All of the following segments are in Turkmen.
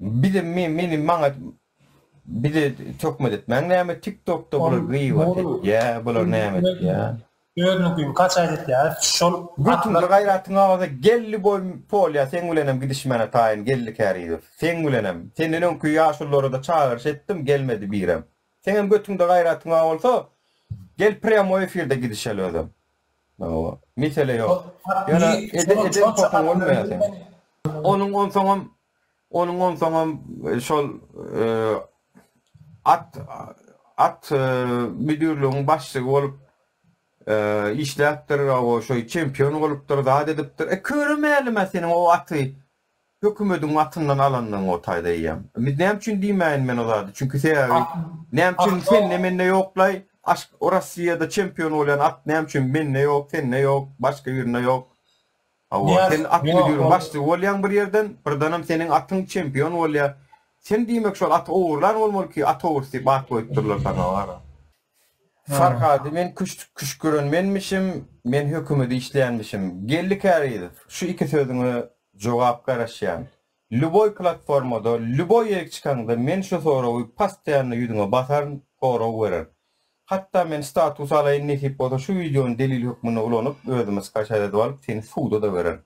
Bize meni maňa bize töhmet etmäň näme tik tokda bular gyýbat etýä bular näme etýä. Özüniň gün kaç aýt etýä şol götüňde gaýratyň awaza geldi goý polýa seň bilenem gidişmäne taýyn geldi kärizow seň bilenem senden öňki ýaşulylarada çagyryş etdim gelmedi birem seňem götüňde gaýratyň bar bolsa gel prýamoý efirde gidişeli özem Mesele ýok. Ýöne eden potuň bolmaýar seň. Onuň onsoňam onuň onsoňam şol at at müdirligiň başlygy bolup işläpdir, owo şoý çempion bolupdyr, zat edipdir. E köre mälim-ä seniň o aty Hökümediň atyndan alandygyň o taýda eýýäm. Biz näme üçin diýmäýin men o zady? Çünki sebäbi näme üçin sende mende ýoklaý? Aşk o Rossiýada çempion bolýan at näme üçin mende ýok, sende ýok, başga birinde ýok? Hawa, sen at müdiriň başlygy bolýaň bir ýerden, birdenem seniň atyň çempion bolýar. Sen diýmek şol aty ogurlan bolmaly ki, at ogrusy diýip at goýupdyrlar saňa wara. Farhady men küşgüren menmişim, men hökümeti işleýänmişim. Geldi Kärizow, şu iki sözüňe jogap garaşýan. Lýuboý platformada, lýuboý ýerik çykaňda men şu soragy pastaýanno ýüzüňe basaryn, sorag bererin. Hatda men status alaýyn nesip bolsa şu wideony delil hökmünde ulanyp özüme skaçat edip alyp seni suda-da bererin.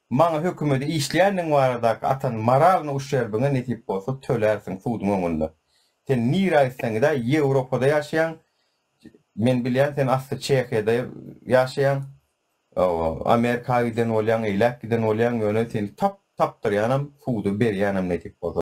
Maňa hökümede işleýänligiň baradaky atan moralny uşerbiňe nesip bolsa tölärsiň suduň öňünde. Sen nire aýtsaň gidä ýewropada ýaşaýaň men bilýän sen asly çehiýada ýaşaýaň amerika giden bolýaň eýläk giden bolýaň ýöne seni tap tapdyrýanam suda berýänem nesip bolsa.